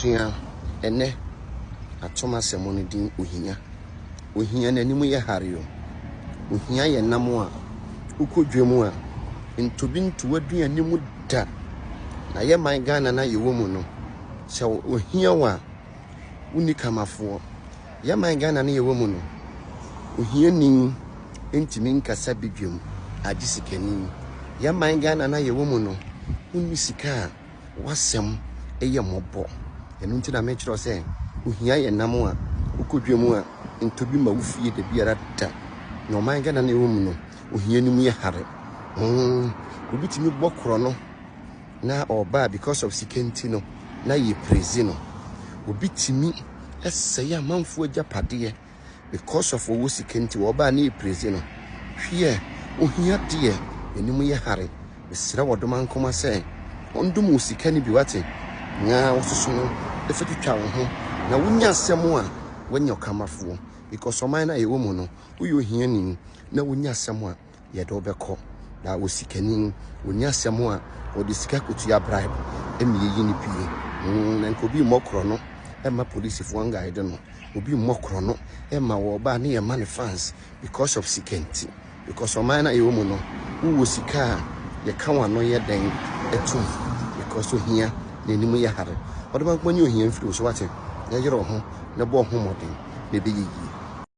Sua ɛnnɛ atom asɛm no din Ohia. Ohia n'anim yɛ hare o. Ohia yɛ nam a wokɔ dwa mu a ntobi nto w'aduane mu da. Na yɛ man Ghana no a yɛwɔ mu no, sɛ ohia wo a, wonni kamafoɔ. Yɛ man Ghana no yɛwɔ mu no, ohiani ntumi nkasa badwam agye sikani. Yɛ man Ghana no a yɛwɔ mu no, wonni sika a w'asɛm yɛ mmɔbɔ. Ɛno nti na mekyerɛ wo sɛ, ohia yɛ nam a wokɔ dwa mu a, ntɔ bi ma wo fie da biara da. Na ɔman Ghana na ɛwɔ mu no, ohia no mu yɛ hare. Hmm, obi tumi bɔ korɔ no na ɔba a because of sika nti no, na yɛprezi no. Obi tumi sɛe amanfoɔ agyapadeɛ. because of ɔwɔ sika nti wɔbaa ne ɛpirezi no hwiɛ ohia deɛ anim yɛ hare mesrɛ wɔ doma nkoma sɛ ɔndom wo sika no bi wate na wososo no ɛfa twitwa wo ho na wonya asɛm a wanya ɔkamafoɔ because ɔman no a yɛwɔ mu no woyɛ ohiani na wonya asɛm a yɛde wo bɛkɔ. Na wɔ sikani no, wɔnni asɛm a wɔde sika kɔtua bribe ma yɛyi no pie. Mm, na nka obi mmɔ korɔ no ɛma polisifoɔ ngaede no. Obi mmɔ korɔ no ɛma wɔ ɔbaa ne yɛma ne fans because of sika nti. Because ɔman no a yɛwɔ mu no, wowɔ sika a yɛka w'ano yɛ dɛn atum because ohia n'anim yɛ hare. Ɔdɔbankoma nyi ohia mfiri wo so wate. Na yere wo ho na bɔ wo ho mmɔden na ɛbɛyɛ yie.